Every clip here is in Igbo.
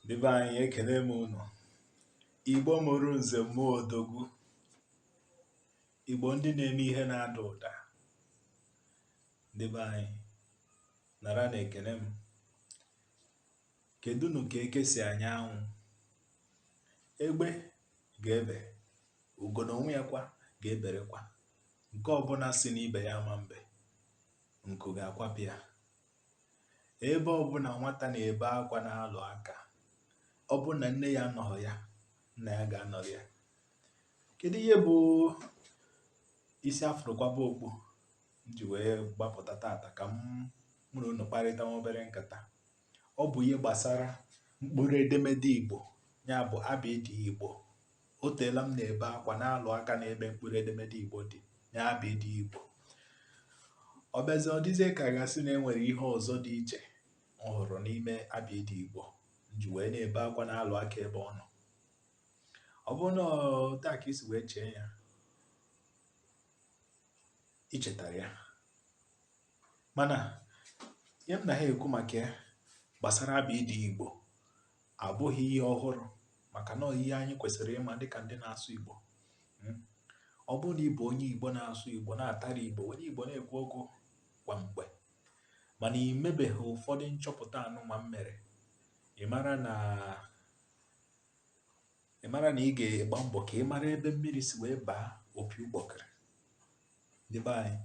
Ndị be anyị ekene m unu. Igbo mụrụ nze mụọ odogwu. Igbo ndị na-eme ihe na-ada ụda. Ndị be anyị naranụ ekene m. Kedụnụ ka eke si anya anwụ? Egbe ga-ebe, ugo n'onwe ya kwa ga-eberekwa. Nke ọbụla sị n'ibe ya ama mbe, nku ga-akwapụ ya. Ebe ọbụla nwata na-ebe akwa na-alụ aka, ọ bụrụ na nne ya anọghị ya, nna ya ga-anọrọ ya. Kedu ihe bụ isi a fụrụ kwaba okpu m ji wee gbapụta taata ka mụ na unu kparịta nwa obere nkata? Ọ bụ ihe gbasara mkpụrụ edemede Igbo, ya bụ abịdịị Igbo. O teela m na-ebe akwa na-alụ aka n'ebe mkpụrụ edemede Igbo dị n'abịdịị Igbo. Ọ bịazi ọ dịzie ka a ga-asị na e nwere ihe ọzọ dị iche m hụrụ n'ime abịdịị Igbo m ji wee na-ebe akwa na-alụ aka ebe ọ nọ. Ọ bụrụ na etu a ka i si wee chee ya, i chetara ya. Mana ihe m na ha ekwu maka ya gbasara abịdịị Igbo abụghị ihe ọhụrụ maka na ihe anyị kwesịrị ịma dịka ndị na-asụ Igbo hmm? ọ bụrụ na ị bụ onye Igbo na-asụ Igbo na-atara Igbo were Igbo na-ekwu okwu kwa mgbe mana ị mebeghị ụfọdụ nchọpụta anụnwa m mere ị mara na ị mara na ị ga-agba mbọ ka ị mara ebe mmiri si wee baa opi ụgbọkịrị ndị be anyị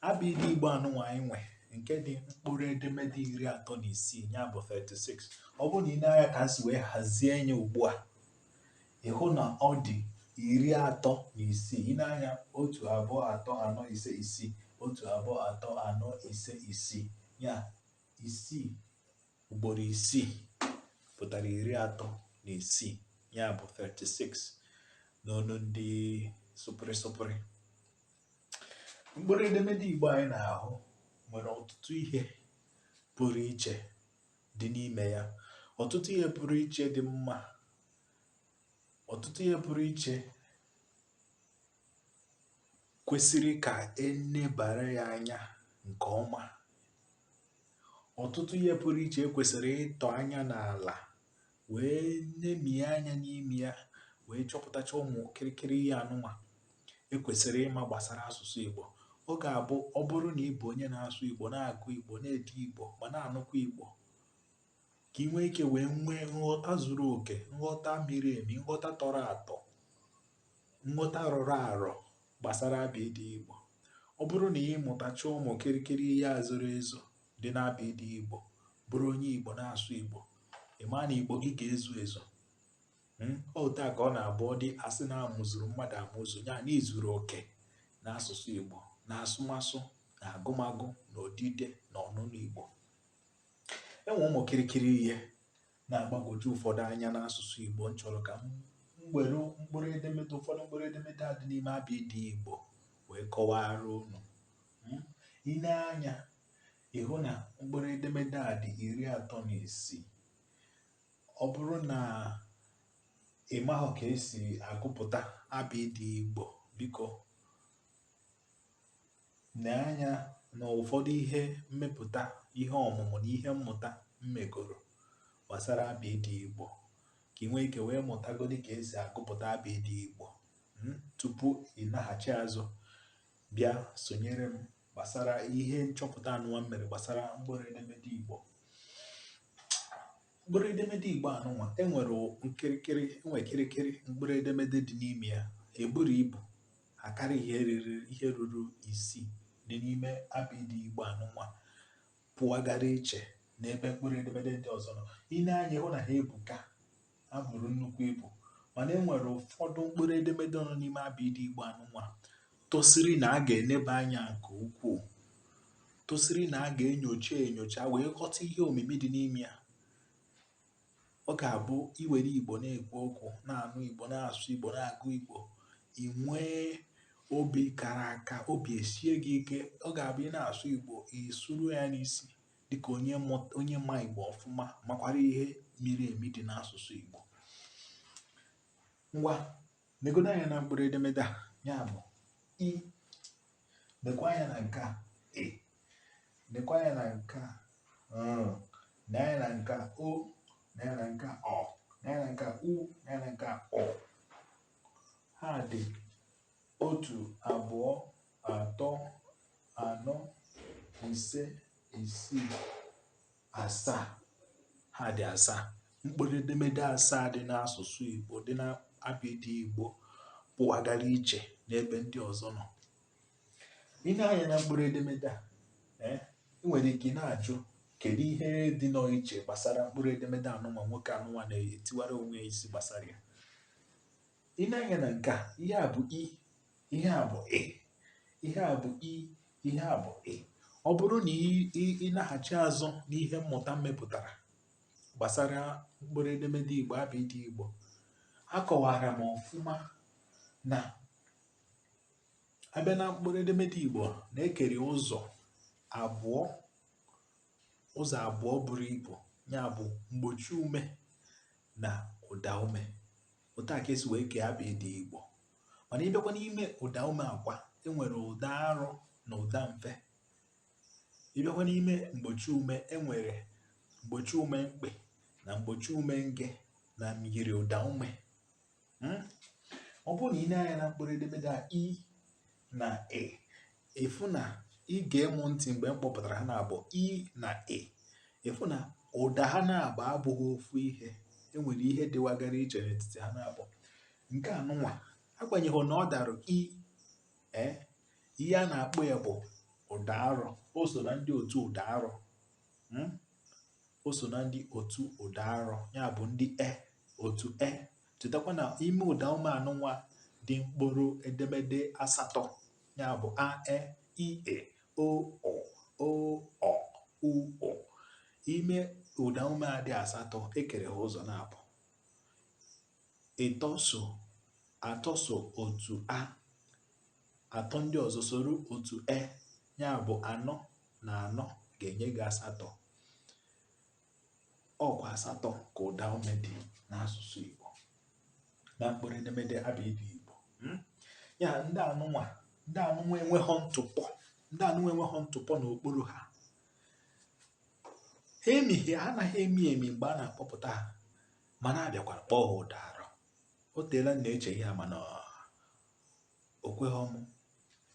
abịdịị igbo anụnwa anyị nwe nke dị mkpụrụ edemede iri atọ na isii ya bụ 36 ọ bụrụ na i nee anya ka e si wee hazie ya ugbu a ị hụ na ọ dị iri atọ na isii i nee anya otu abụọ atọ anọ ise isii otu abụọ atọ anọ ise isii ya isii ugboro isii pụtara iri atọ na isii ya bụ 36 n'ọnụ ndị sụpụrị sụpụrị mkpụrụ edemede igbo anyị na-ahụ nwere ọtụtụ ihe pụrụ iche dị n'ime ya ọtụtụ ihe pụrụ iche dị mma ọtụtụ ihe pụrụ iche kwesịrị ka e nebara ya anya nke ọma ọtụtụ ihe pụrụ iche e kwesịrị ịtọ anya n'ala wee nemie anya n'ime ya wee chọpụtacha ụmụ kịrịkịrị ihe anụnwa e kwesịrị ịma gbasara asụsụ Igbo ọ ga-abụ ọ bụrụ na ị bụ onye na-asụ Igbo na-agụ Igbo na-ede Igbo ma na-anụkwa Igbo ka ị nwee ike wee nwee nghọta zuru oke nghọta miri emi nghọta tọrọ atọ nghọta rọrọ arọ gbasara abịịdị igbo ọ bụrụ na ị mụtacha ụmụ kịrịkịrị ihe a zoro ezo dị n'abịịdị igbo bụrụ onye igbo na-asụ igbo ị maa na igbo gị ga-ezu ezu hmm? otu a ka ọ na-abụ ọ dị a sị na a mụzuru mmadụ amụzu ya na izuru oke na asụsụ igbo na asụmasụ na agụmagụ na odide na ọnụnụ igbo enwe ụmụ kirikiri ihe na-agbagwoju ụfọdụ anya n'asụsụ Igbo m chọrọ ka m were mkpụrụ edemede ụfọdụ mkpụrụ edemede a dị n'ime abịịdị Igbo wee kọwara unu hmm? i nee anya ị hụ na mkpụrụ edemede a dị iri atọ na isii ọ bụrụ na ị maghị ka esi agụpụta abịịdị Igbo biko nee anya na ụfọdụ ihe mmepụta ihe ọmụmụ na ihe mmụta m megoro gbasara abịịdị Igbo ka ị nwee ike wee mụtagodi ka esi agụpụta abịịdị Igbo hmm, tupu ị naghachi azụ bịa sonyere m gbasara ihe nchọpụta anụnwa m mere gbasara mkpụrụ edemede Igbo mkpụrụ edemede Igbo anụnwa enwere kirikiri enwe kirikiri mkpụrụ edemede dị n'ime ya eburu ibu Akarị ihe riri ihe ruru isii dị n'ime abịịdị Igbo anụnwa pụagara iche n'ebe mkpụrụ edemede ndị ọzọ nọ. I nee anya ị hụ na ha ebuka, ha buru nnukwu ibu. Mana e nwere ụfọdụ mkpụrụ edemede nọ n'ime abịịdị Igbo anụnwa tosiri na a ga-eneba anya nke ukwuu, tosiri na a ga-enyocha enyocha wee ghọta ihe omimi dị n'ime ya. Ọ ga-abụ i were Igbo na-ekwu okwu, na-anụ Igbo, na-asụ Igbo, na-agụ Igbo, i nwee obi kara aka, obi esie gị ike. Ọ ga-abụ ị na-asụ Igbo, ị sụrụ ya n'isi dịka onye ma Igbo ọfụma makwara ihe miri emi dị n'asụsụ Igbo. Ngwa negodo anya na mkpụrụ edemede a ya bụ i nekwa anya na nke a e nekwa anya na nke a mm. nee anya na nke a o nee anya na nke a ọ nee anya na nke a u nee anya na nke a ụ ha dị otu abụọ atọ anọ ise isii asaa ha dị asaa mkpụrụ edemede asaa dị n'asụsụ Igbo dị n'abịdị Igbo pụwagara iche n'ebe ndị ọzọ nọ i nee anya na mkpụrụ edemede a eh, ị nwere ike na-ajụ kedu ihe dịnụ iche gbasara mkpụrụ edemede anụnwa nwoke anụnwa na-etiwara onwe ya isi gbasara ya i nee anya na nke a ihe a bụ i ihe a bụ ị ihe a bụ i ihe a bụ ị ọ bụrụ na ị naghachi azụ n'ihe mmụta m mepụtara gbasara mkpụrụ edemede igbo abịdị igbo akọwara m ọfụma na a bịa na mkpụrụ edemede Igbo na e kere ụzọ abụọ ụzọ abụọ buru ibu ya bụ mgbochi ume na ụda ume otu a ka esi wee kee abịdị Igbo mana ị bịakwa n'ime ụda ume a kwa enwere ụda arọ na ụda mfe ị bịakwa n'ime mgbochi ume enwere mgbochi ume mkpị na mgbochi ume nge na myiri ụda ume hmm? ọ bụrụ na i nee anya na mkpụrụ edemede a i na ị ị fụ na i gee mụ ntị mgbe m kpọpụtara ha naabọ i na ị ị fụ na ụda ha naabọ abụghị ofu ihe enwere ihe dịwagara iche n'etiti ha naabọ nke anụnwa agbanyeghị na ọ dara i, ihe a na-akpọ ya bụ ụda arọ o so na ndị otu ụda arọ hmm? o so na ndị otu ụda arọ ya bụ ndị e otu e chetakwa na ime ụda ume anụnwa dị mkpụrụ edemede asatọ ya bụ a e i ị o ọ o ọ u ụ ime ụda ume a dị asatọ ekere ha ụzọ naabọ ịtọ so atọ so otu a atọ ndị ọzọ soro otu e ya bụ anọ na anọ ga-enye gị asatọ ọkwa asatọ ka ụda ume dị n'asụsụ Igbo na mkpụrụ edemede abịdị Igbo hmm? ya ndị anụnwa ndị anụnwa enweghị ntụpọ ndị anụnwa enweghị ntụpọ n'okpuru ha ha emighị ha anaghị emi emi mgbe a na-akpọpụta ha mana a bịakwara kpọọ ha ụda arọ o teela m na-eche ya mana o kweghị mụ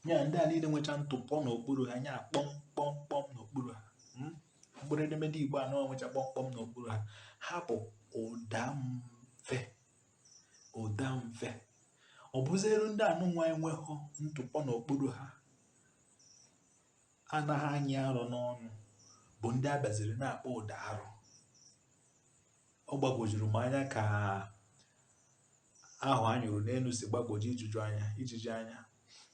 ya ndị a niile nwecha ntụpọ n'okpuru ha nya kpọmkpọmkpọm n'okpuru ha hmm? mkpụrụ edemede igbo anọ nwecha kpọmkpọm n'okpuru ha ha bụ ụda mfe ụda mfe ọ bụzịrụ ndị anụnwa enweghị ntụpọ n'okpuru ha anaghị anyị arọ n'ọnụ bụ ndị a bịaziri na-akpọ ụda arọ ọ gbagwojuru m anya ka ahụ a nyụrụ n'elu si gbagwoju ijuju anya ijiji anya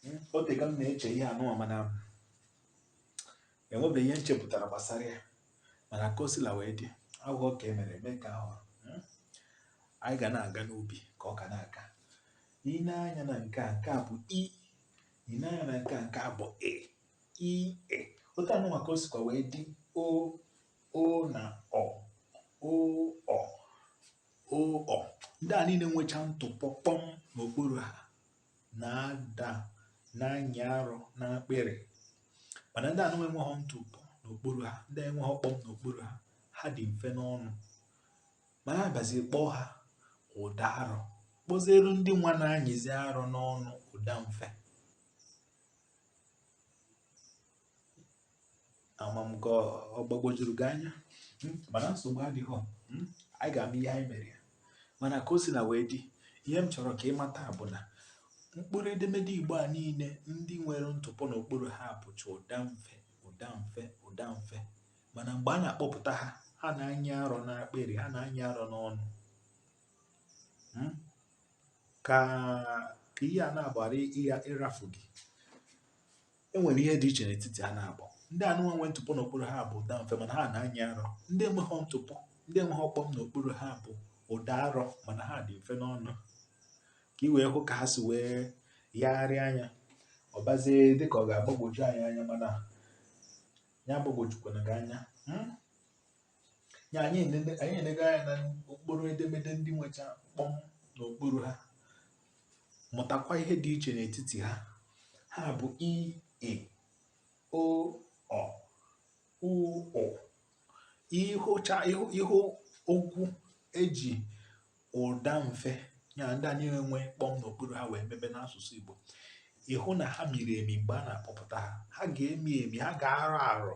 hmm, o teka m na-eche ihe anụnwa mana enwebeghị ihe m chepụtara gbasara ya mana ka o sila wee dị aghụghọ ka e mere eme ka ahụ hmm, anyị ga na-aga n'ubi ka ọka na-aka i nee anya na nke a nke a bụ i i nee anya na nke a nke a bụ ị i ị otu anụnwa ka o sikwa wee dị o o na ọ o ọ o ọ ndị a niile nwecha ntụpọ kpọm n'okpuru ha na-ada na-anyị arọ n'akpịrị mana ndị anụnwa enweghị ntụpọ n'okpuru ha ndị enweghị kpọm n'okpuru ha ha dị mfe n'ọnụ mana a bazie kpọọ ha ụda arọ kpọzieru ndị nwa na-anyịzi arọ n'ọnụ ụda mfe ama m ka ọ gbagwojuru gị anya hmm? mana nsogbu adịghị hmm? anyị ga-ama ihe anyị mere ya mana ka o si na wee dị ihe m chọrọ ka ị mata bụ na mkpụrụ edemede igbo a niile ndị nwere ntụpọ n'okpuru ha bụcha ụda mfe ụda mfe ụda mfe mana mgbe a na-akpọpụta ha ha na-anyị arọ n'akpịrị ha na-anyị arọ n'ọnụ hmm? ka ihe a nwa ghara ịrafu gị e nwere ihe dị iche n'etiti ha naabọ ndị anụnwa nwe ntụpọ n'okpuru ha bụ ụda mfe mana ha na-anyị arọ ndị enweghị ntụpọ ndị enweghị kpọm n'okpuru ha bụ ụda arọ mana ha dị mfe n'ọnụ ka ị wee hụ ka ha si wee yagharịa anya ọ bazie dịka ọ ga-agbagwoju anyị anya mana ya agbagwojukwana gị anya hmm? ya anyị enene- anyị enego anya na mkpụrụ edemede ndị nwecha kpọm n'okpuru ha mụtakwa ihe dị iche n'etiti ha ha bụ i ị o ọ u ụ ị hụcha ị hụ ị hụ okwu e ji ụda mfe ya ndị a niile nwe kpọm n'okpuru ha wee mebe n'asụsụ Igbo ị hụ na ha miri emi mgbe a na-akpọpụta ha ha ga-emi emi ha ga-arọ arọ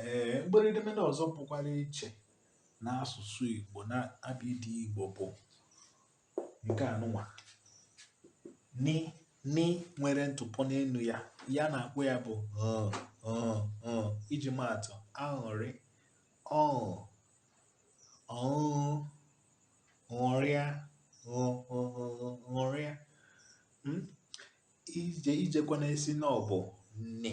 Ee, mkpụrụ edemede ọzọ pụkwara iche n'asụsụ Igbo na abịdị Igbo bụ nke anụnwa ni ni nwere ntụpọ n'elu ya ihe a na-akpọ ya bụ iji maatụ aṅụrị ọṅụ ọṅụ ṅụrịa ṅụrịa hmm? i je i jekwana asị na ọ bụ ni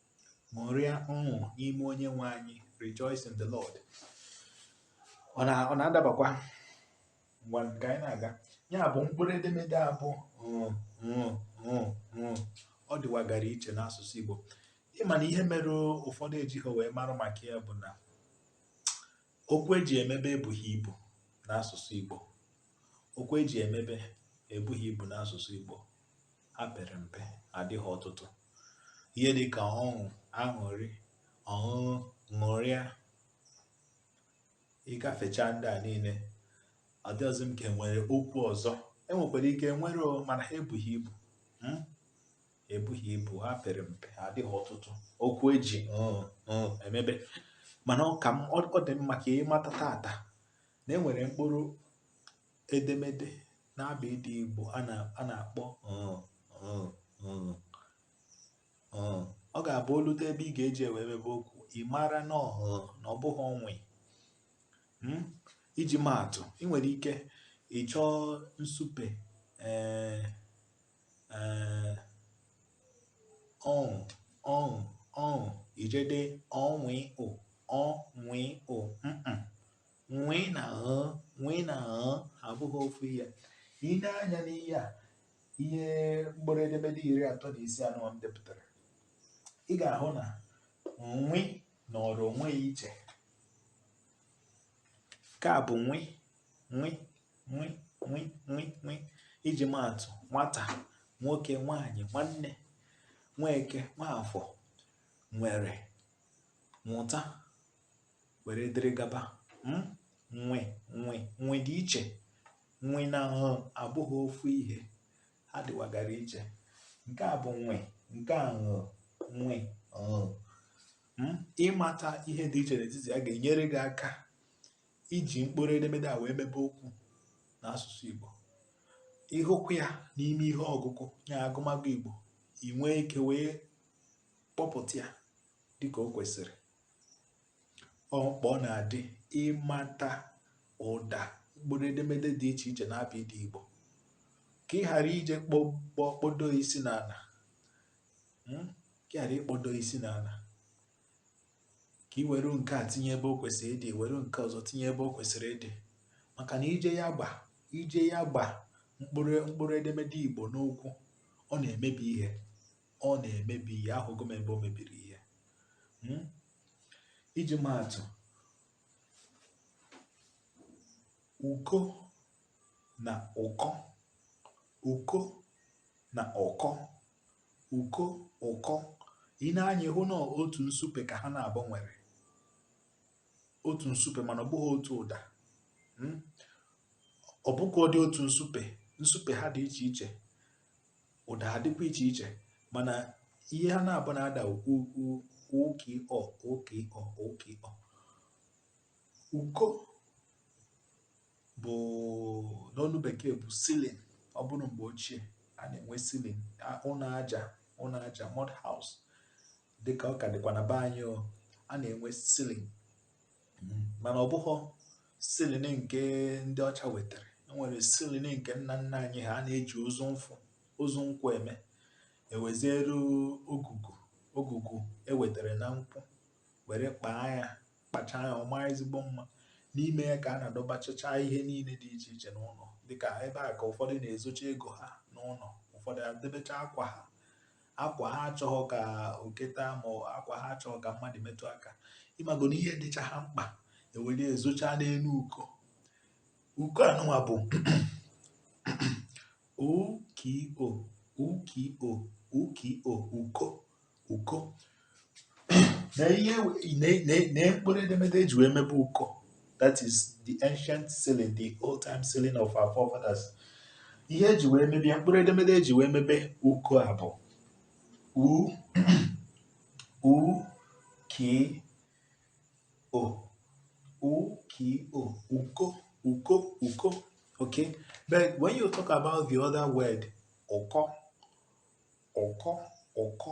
ṅụrịa ọṅụ n'ime onye nwe anyị rejoice in the Lord ọ na-adabakwa ngwanụ ka anyị na-aga ya bụ mkpụrụ edemede a bụ ọ dịwagara iche n'asụsụ Igbo ịma na ihe mere ụfọdụ ejighị wee mara maka ya bụ na okwu eji emebe ebughị ibu n'asụsụ Igbo okwu eji emebe ebughị ibu n'asụsụ Igbo ha pere mpe adịghị ọtụtụ ihe dị ka ọṅụ aṅụrị ọṅụṅụ ṅụrịa ịgafecha ndị a niile ọ dịghịzị m ka enwere okwu ọzọ enwekwara ike nwere mana ha ebughị ibu hmm? ebughị ibu ha pere mpe ha adịghị ọtụtụ okwu eji ṅ ṅ emebe mana ọ ka ọ dị mma ka ị mata tata na enwere mkpụrụ edemede n'abịdịị Igbo a na-akpọ ọ ga-abụ o lute ebe ị ga-eji wee mebe okwu ị mara na ọ bụghị nwe hmm? iji maatụ ị nwere ike ịchọ ịsupe ee ee ọṅụ ọṅụ ọṅụ ị je dee ọ nwe ụ ọ nwe ụ nwe na ṅ nwe na ṅ abụghị ofu ihe ị nee anya n'ihe a ihe mkpụrụ edemede iri atọ na isii anụwa m depụtara ị ga-ahụ na nwe nọrọ onwe ya iche nke a bụ nwe nwe nwe nwe nwe nwe iji maatụ nwata nwoke nwanyị nwanne Nweke Nwafọ nwere nwụta were dịrị gaba hmm? nwe nwe nwe dị iche nwe na ṅ abụghị ofu ihe ha dịwagara iche nke a bụ nwe nke a ṅ nwe ṅ hmm? ịmata ihe dị iche n'etiti ya ga-enyere gị aka iji mkpụrụ edemede a wee mebe okwu n'asụsụ Igbo ịhụkwu ya n'ime ihe ọgụgụ ya agụmagụ Igbo ị nwee ike wee kpọpụta ya dịka o kwesịrị ọ mkpa ọ na-adị ịmata ụda mkpụrụ edemede dị iche iche n'abịdịị Igbo ka ị ghara ije kpo kpodo isi n'ala hmm? ka ị ghara ikpodo isi n'ala ka ị were nke a tinye ebe o kwesịrị ịdị were nke ọzọ tinye ebe o kwesịrị ịdị maka na ije ya gba ije ya gba mkpụrụ edemede Igbo n'okwu ọ na-emebi ihe ọ na-emebi ihe ahụgo m ebe o mebiri ihe hmm? iji maa atụ uko na ụkọ uko na ụkọ uko ụkọ ị nee anya ị hụ na otu nsupe ka ha n'abụọ nwere otu nsupe mana ọ bụghị otu ụda hmm? ọ bụkwa dị otu nsupe nsupe ha dị iche iche ụda ha dịkwa iche iche mana ihe ha n'abụọ na-ada uko uko u k o u k o u k o uko bụ n'olu bekee bụ ceiling ọ bụrụ mgbe ochie a na-enwe ceiling ụnọ aja ụnọ aja mud house dịka ọ ka dịkwa na be anyị a na-enwe ceiling mana ọ bụghị ceiling nke ndị ọcha wetara enwere ceiling nke nna nna anyị ha na-eji ozu nfụ ozu nkwụ eme eweziere ogugu ogugu ewetara na nkwụ were kpaa ya kpachaa ya ọ maa ezigbo mma n'ime ya ka a na-adọbachacha ihe niile dị iche iche n'ụnọ dịka ebe a ka ụfọdụ na-ezocha ego ha n'ụnọ ụfọdụ adebecha akwa ha akwa ha achọghị ka oke taa ma akwa ha achọghị ka mmadụ metụ aka ị mago na ihe dịcha ha mkpa ewere ezocha n'elu uko uko anụnwa bụ u k o u k o u k o uko uko na ihe na mkpụrụ edemede eji wee mebe uko that is the ancient ceiling the old time ceiling of our forefathers ihe eji wee mebe ya mkpụrụ edemede eji wee mebe uko a bụ u u k o u k o uko uko uko okay but when you talk about the other word ụkọ ụkọ ụkọ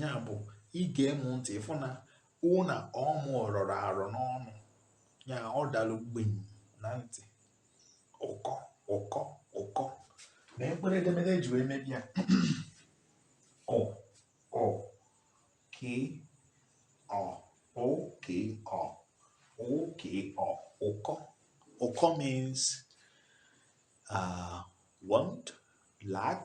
ya bụ i gee mụ ntị ị fụ na ụna ọmụ rọrọ arọ n'ọnụ ya ọ dalụ gbim na ntị ụkọ ụkọ ụkọ na mkpụrụ edemede eji wee mebe ya ụ ụ k ọ ụ k ọ ụ k ọ ụkọ ụkọ means uh, want lack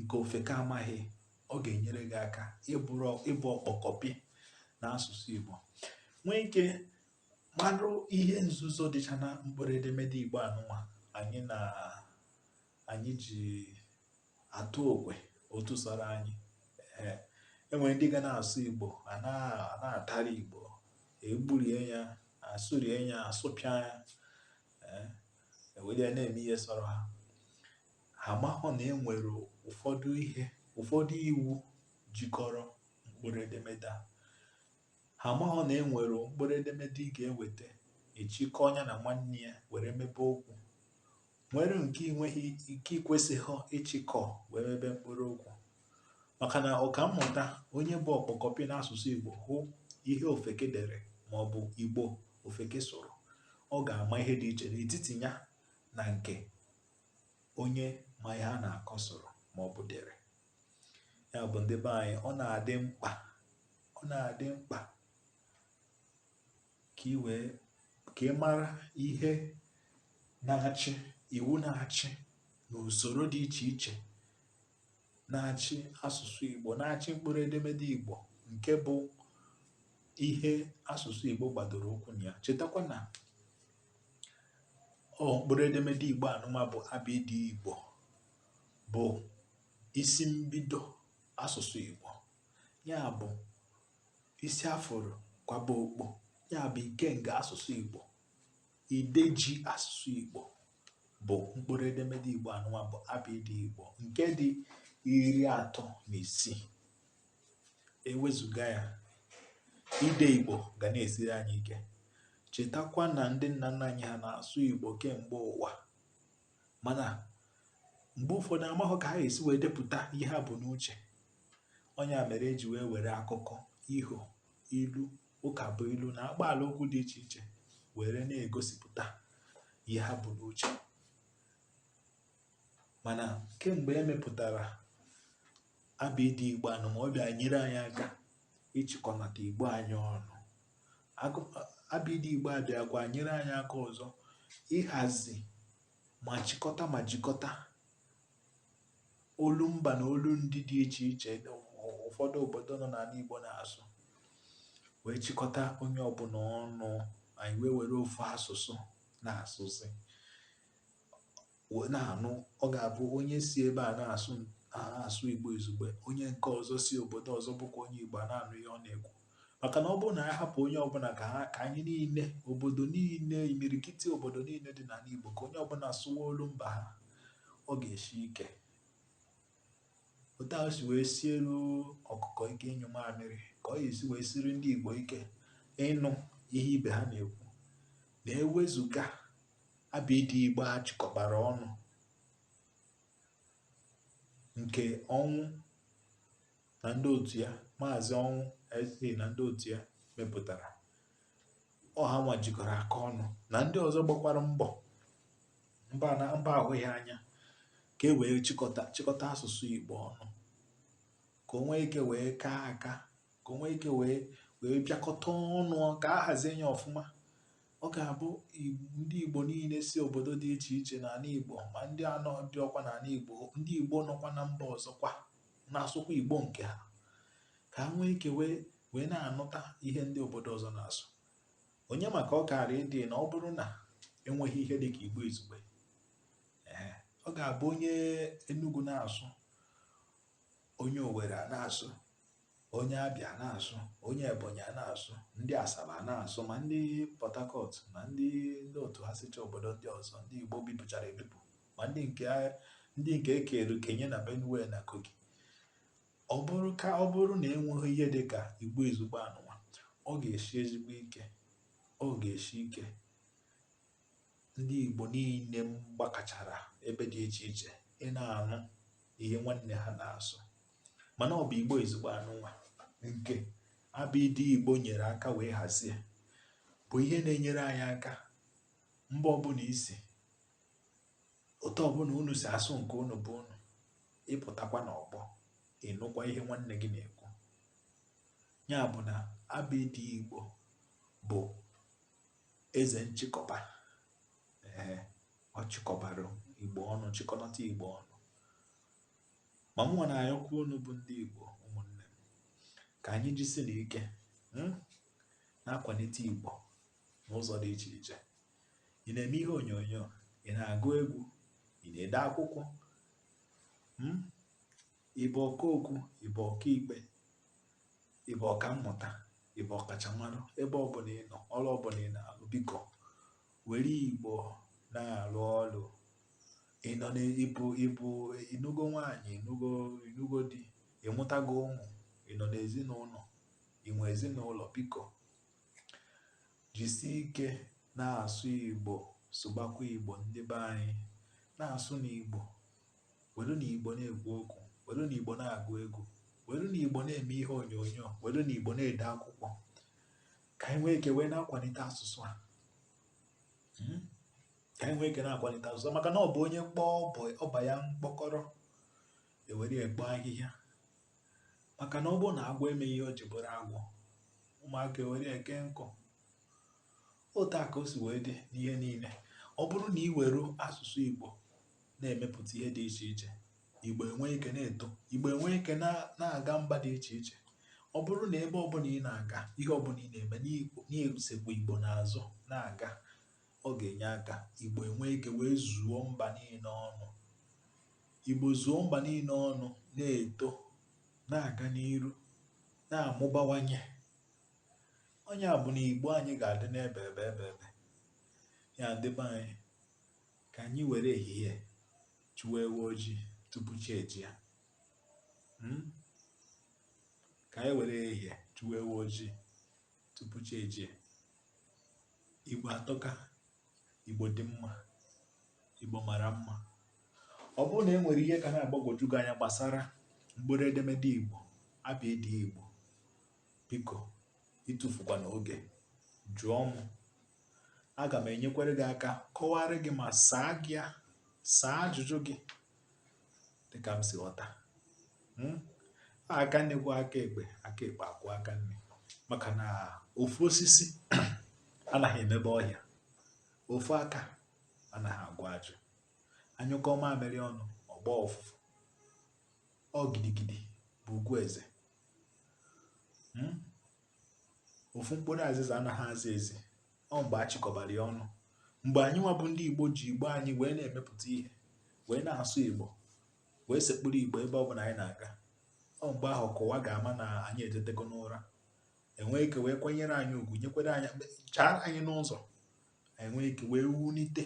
nke ofeke amaghị ọ ga-enyere gị aka ịbụrụ ịbụ ọkpọkọpị n'asụsụ Igbo nwee ike marụ ihe nzuzo dịcha na mkpụrụ edemede Igbo anụnwa anyị na anyị ji atụ okwe otu sọrọ anyị ee enwere ndị ga na-asụ Igbo a na-atara Igbo egburie ya asụrie ya asụpịa ya ewere ya na-eme ihe sọrọ ha Ha mahụ na e nwere ụfọdụ ihe ụfọdụ iwu jikọrọ mkpụrụ edemede a. Ha mahụ na e nwere mkpụrụ edemede ị ga-eweta ị chịkọọ nya na nwanne ya were mebe okwu nwere nke ị nweghị ike i kwesịghị ịchịkọ wee mebe mkpụrụ okwu maka na ọkammụta onye bụ ọkpọkọpị n'asụsụ Igbo hụ ihe ofeke dere ma ọ bụ Igbo ofeke sụrụ ọ ga-ama ihe dị iche n'etiti ya na nke onye ma ihe a na-akọ sụrụ ma ọ bụ dere ya bụ ndị be anyị ọ na-adị mkpa ọ na-adị mkpa ka ị wee ka ị mara ihe na-achị iwu na-achị na usoro dị iche iche na-achị asụsụ Igbo na-achị mkpụrụ edemede Igbo nke bụ ihe asụsụ Igbo gbadoro ụkwụ na ya chetakwa na ọ mkpụrụ edemede igbo anụma bụ abịdị igbo bụ isi mbido asụsụ igbo ya bụ isi a fụrụ kwaba okpu ya bụ ikenga asụsụ igbo ide ji asụsụ igbo bụ mkpụrụ edemede igbo anụma bụ abịdị igbo nke dị iri atọ na isii Ewezuga ya, ide Igbo ga na-esiri anyị ike. Chetakwa na ndị nna nna anyị ha na-asụ Igbo kemgbe ụwa mana mgbe ụfọdụ amahọ ka ha esi wee depụta ihe ha bu n'uche ọ nya mere e ji wee were akụkọ iho ilu ụkabụilu na akpaala okwu dị iche iche were na-egosipụta ihe ha bu n'uche mana kemgbe e mepụtara abịdị igbo anụma ọ bịa nyere anyị aka ịchịkọnata igbo anyị ọnụ abịdị igbo abịakwa nyere anyị aka ọzọ ịhazi ma chịkọta ma jikọta olu mba na olu ndị dị iche iche ụfọdụ obodo nọ n'ala igbo na-asụ wee chịkọta onye ọbụla ọnụ anyị wee were ofu asụsụ na-asụzi wee na-anụ ọ ga-abụ onye si ebe a na-asụ Igbo izugbe onye nke ọzọ si obodo ọzọ bụkwa onye Igbo na-anụ ihe ọ na-ekwu maka na ọ bụrụ na anyị hapụ onye ọbụla ka ha ka anyị niile obodo niile imirikiti obodo niile dị n'ala Igbo ka onye ọbụla sụwa olu mba ha ọ ga-esi ike otu ahụ o si wee sielu ọkụkọ ike ịnyụ mamịrị ka ọ ga-esi wee siri ndị Igbo ike ịnụ ihe ibe ha na-ekwu na ewezuga abịdị Igbo a chịkọbara ọnụ nke Ọnwụ na ndị otu ya maazị Ọnwụ eze na ndị otu ya mepụtara ọ hanwa jikọrọ aka ọnụ na ndị ọzọ gbakwara mbọ mba na mba ahụghị anya ka e wee chịkọta chịkọta asụsụ Igbo ọnụ ka o nwee ike wee kaa aka ka o nwee ike wee wee bịakọta ọnụ ka a hazie ya ọfụma Ọ ga-abụ ndị Igbo niile si obodo dị iche iche n'ala Igbo ma ndị anọdịrọkwa n'ala Igbo ndị Igbo nọkwa na mba ọzọkwa na-asụkwa Igbo nke ha ka ha nwee ike wee wee na-anụta ihe ndị obodo ọzọ na-asụ onye maka ọ kaara ịdị na ọ bụrụ na enweghị ihe dị ka Igbo izugbe ọ ga-abụ onye Enugu na-asụ onye Owere ana-asụ onye Abịa ana-asụ onye Ebonyi ana-asụ ndị Asaba ana-asụ ma ndị Port Harcourt ma ndị ndị otu ha sicha obodo ndị ọzọ ndị Igbo bipụchara ebipụ ma ndị nke ndị nke e keru kenye na Benue na Kogi ọ bụrụ ka ọ bụrụ na enweghị ihe dị ka Igbo izugbe anụnwa ọ ga-eshi ezigbo ike ọ ga-eshi ike ndị Igbo niile gbakọchara ebe dị iche iche ịna-anụ ihe nwanne ha na-asụ mana ọ bụ igbo izugbe anụnwa nke abịdị igbo nyere aka wee hazie bụ ihe na-enyere anyị aka mba ọbụla i si otu ọbụla unu si asụ nke unu bụ unu ị pụtakwa n'ọgbọ ị nụkwa ihe nwanne gị na-ekwu ya bụ na abịdị igbo bụ eze nchịkọba ee ọ chịkọbara igbo ọnụ chịkọnata igbo ọnụ Ma mụnwa na-ayọkwa unu bụ ndị Igbo ụmụnne m ka anyị jisinụ ike hmm, na-akwalite Igbo n'ụzọ dị iche iche ị na-eme ihe onyonyo ị na-agụ egwu ị na-ede akwụkwọ hmm, ị bụ ọkaokwu ị bụ ọkaikpe ị bụ ọkammụta ị bụ ọkachamara ebe ọbụla ị nọ ọrụ ọbụla ị na-alụ biko were igbo na-arụ ọrụ ị nọ n'ị bụ ị bụ ị nụgo nwaanyị ị nụgo ị nụgo di ị mụtago ụmụ ị nọ n'ezinụlọ i nwe ezinụlọ biko jisie ike na-asụ igbo sụbakwa igbo ndị be anyị na-asụnụ igbo werenụ igbo na-ekwu okwu werenụ igbo na-agụ egwu werenụ igbo na-eme ihe onyonyo werenụ igbo na-ede akwụkwọ ka anyị nwee ike wee na-akwalite asụsụ a hmm? ka anyị nwee ike na-akwalite asụsụ a maka na ọ bụ onye kpọọ ọba ya mkpọkọrọ ewere ekpo ahịhịa maka na ọ bụrụ na agwọ emeghị ihe o ji bụrụ agwọ ụmụaka ewere eke nkụ otu a ka o si wee dị n'ihe niile ọ bụrụ na ị were asụsụ Igbo na-emepụta ihe dị iche iche Igbo enwee ike na-eto Igbo enwee ike na-aga mba dị iche iche ọ bụrụ na ebe ọbụla ị na-aga ihe ọbụla ị na-eme na-esekwa Igbo n'azụ na-aga ọ ga-enye aka Igbo enwee ike wee zuo mba niile ọnụ Igbo zuo mba niile ọnụ na-eto na-aga n'iru na-amụbawanye ọ nya bụ na Igbo anyị ga-adị n'ebe ebe ebe ebe ya ndị be anyị ka anyị were ehihie chụwa ewu ojii tupu chi ejie hmm? ka anyị were ehihie chụwa ewu ojii tupu chi ejie igbo atọka igbo dị mma igbo mara mma ọ bụrụ na e nwere ihe ka na-agbagwoju gị anya gbasara mkpụrụ edemede igbo abịịdịị igbo biko atụfukwana oge jụọ m aga m enyekwara gị aka kọwara gị ma saa gị ya saa ajụjụ gị dịka m si ghọta hmm? aka nni kwọọ aka ekpe aka ekpe akwọọ aka nni maka na ofu osisi anaghị emebe ọhịa ofu aka anaghị agwọ ajụ anyụkọọ mamịrị ọnụ ọ gbaa ụfụfụ ọ gidigidi bụ ugwu eze hmm? ofu mkpụrụ azịza anaghị aza ezi ọ mgbe a chịkọbara ya ọnụ mgbe anyị nwa bụ ndị igbo ji igbo anyị wee na-emepụta ihe wee na-asụ igbo wee sekpụrụ igbo ebe ọ bụla anyị na-aga ọ mgbe ahụ ka ụwa ga-ama na anyị etetego n'ụra enwee ike wee kwanyere anyị ugwu nwee ike wee chaara anyị n'ụzọ enwee ike wee wulite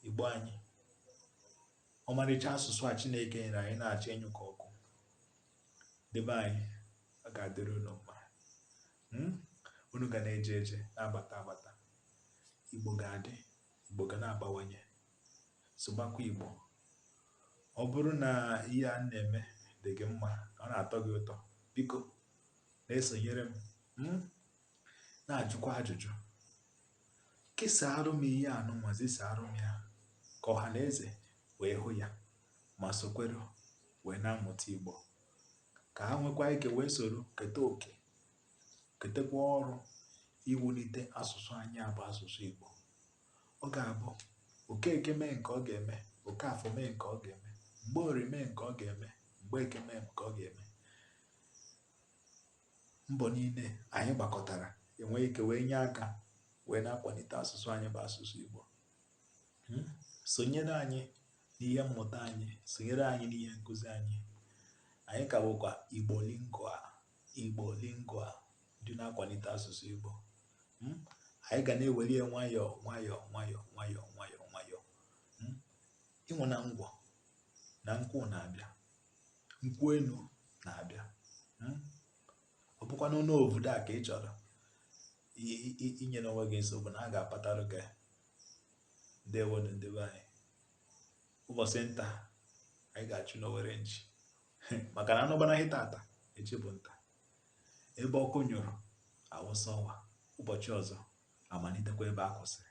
igbo anyị ọmarịcha asụsụ a chineke nyere anyị na-achọ ịnyụ ka ọkụ ndị be anyị ọ ga-adịrị unu mma hmm? unu ga na-eje eje na-abata abata igbo ga-adị igbo ga na-abawanye sụbakwa igbo ọ bụrụ na ihe m na-eme dị gị mma ọ na-atọ gị ụtọ biko na-esonyere m hmm? na-ajụkwa ajụjụ kesaara m ihe anụnwa zisaara m ya ka ọha na eze wee hụ ya ma sokwere wee na-amụta Igbo ka ha nwekwaa ike wee soro keta oke ketekwa ọrụ iwulite asụsụ anyị a bụ asụsụ Igbo ọ ga-abụ Okeke mee nke ọ ga-eme Okafọ mee nke ọ ga-eme Mgborie mee nke ọ ga-eme Mgbeke mee nke ọ ga-eme mbọ niile anyị gbakọtara enwe ike wee nye aka wee na-akwalite asụsụ anyị bụ asụsụ Igbo hmm? sonyere anyị n'ihe mmụta anyị sonyere anyị n'ihe nkụzi anyị anyị ka bụkwa igbo lingua igbo lingua ndị na-akwalite asụsụ igbo hmm? anyị ga na-eweli ya nwayọọ nwayọọ nwayọọ nwayọọ nwayọọ nwayọọ hmm? ị ṅụna ngwọ na nkwụ na-abịa nkwụ enu na-abịa hmm? ọ bụkwanụ obodo a ka ị chọrọ inyena onwe gị nsogbu na a ga-apatara gị ndewonụ ndị be anyị ụbọchị nta anyị ga-achụ n'owere nchi maka na anụ gbanarị tata echi bụ nta ebe ọkụ nyụrụ a wụsa ọwa ụbọchị ọzọ a malitekwa ebe a kwụsịrị